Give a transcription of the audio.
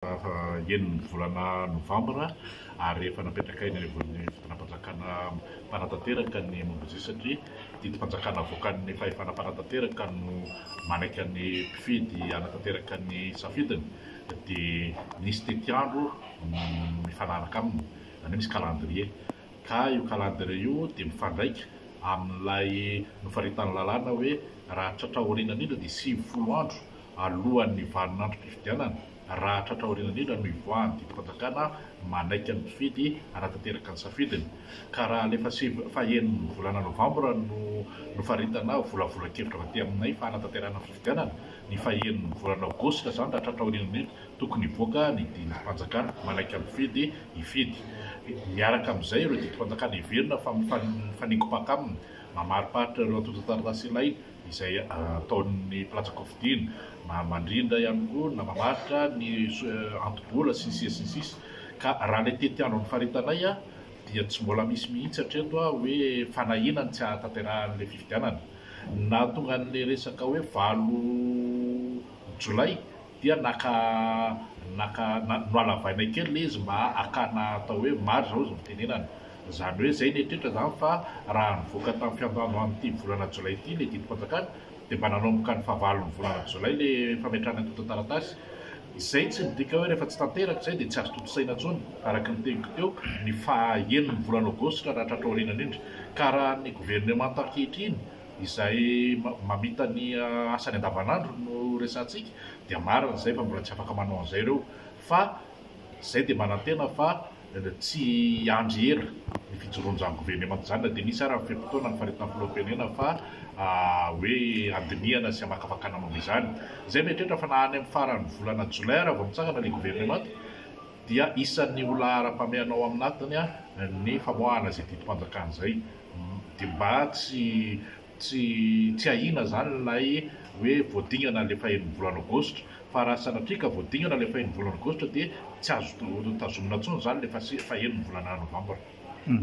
Fahaenin'ny volana novambra ary efa napetraka eny anivon'ny fitondram-panjakana mpanatanteraka ny momba izay satria didim-panjakana avoakan'ny fahefana mpanatanteraka no manaiky ny mpifidy hanatanteraka ny safidiny dia misy tetiandro mifanaraka aminy izany hoe misy calendrier ka io calendrier io dia mifandraika amin'ilay nofaritan'ny lalàna hoe raha tratra aoriana indrindra dia sivifolo andro alohan'ny vanin'androm-pifidianana, raha tratra aoriana indrindra no hivoahan'ny didim-panjakana manaiky ny mpifidy hanatanteraka ny safidiny, ka raha alefa sivy fahenin'ny volana novambra no nofaritana volavolan-kevitra avy aty aminay fa hanatanterahana ny fifidianana ny fahenin'ny volana aogositra izany, raha tratra aoriana indrindra, tokony hivoaka ny didim-panjakana manaiky ny mpifidy hifidy miaraka amin'izay ireo didim-panjakana heverina fa mifaningom-paka aminy, mamariparitra ireo antontan-taratasy ilaina. izay ataon'ny mpilatsa-kofidina na mandrindra ihany koa na mamaritra ny anto-bola sy ny sisa sy ny sisa ka raha ilay tetiandron'ny faritanay dia tsy mbola misy mihitsy hatreto hoe fanahiana ny tsy hahatanterahan'ilay fifidianana. Ny nahatonga an'ilay resaka hoe valo jolay Dia naka naka nohalavaina kely ilay izy mba hakana atao hoe marge hozy ny fitenenana. Izany hoe izay ny eritreritra izany fa raha nivoaka tamin'ny fiandohan'ny amin'ity volana jolay ity ilay didim-panjakana dia mba nanomboka ny fahavalon'ny volana jolay ilay fametrahana ny antontan-taratasy. Izay tsy midika hoe rehefa tsy tanteraka izay dia tsy azo tontosaina intsony araka ny teniko teo ny faha enin'ny volana aogositra raha tratran'ny aoriana indrindra ka raha ny governemanta ankehitriny izay mamita ny asany andavanandro no resahantsika dia marina izay fa mbola tsy afaka manao an'izay ireo fa izay dia manantena fa tsy hiandry ela ny fijoroan'izany governemanta izany na dia nisy ary ny fe-potoana ny faritana filoham-pirenena fa hoe handinihana sy hamakafakana momba izany izay mieritreritra fa na any amin'ny faran'ny volana jolay ary vao mitsangana ilay governemanta dia isan'ny ho laharam-pahamehana ao aminatiny ny famoahana izay didim-panjakana izay Dia mba tsy tsy tsy ahiana izany ilay hoe voadingana ilay fahen'ny volana Aogositra, fa raha sanatria ka voadingana ilay fahen'ny volana Aogositra dia tsy azo tazomina intsony izany ilay fahen'ny volana Novambra.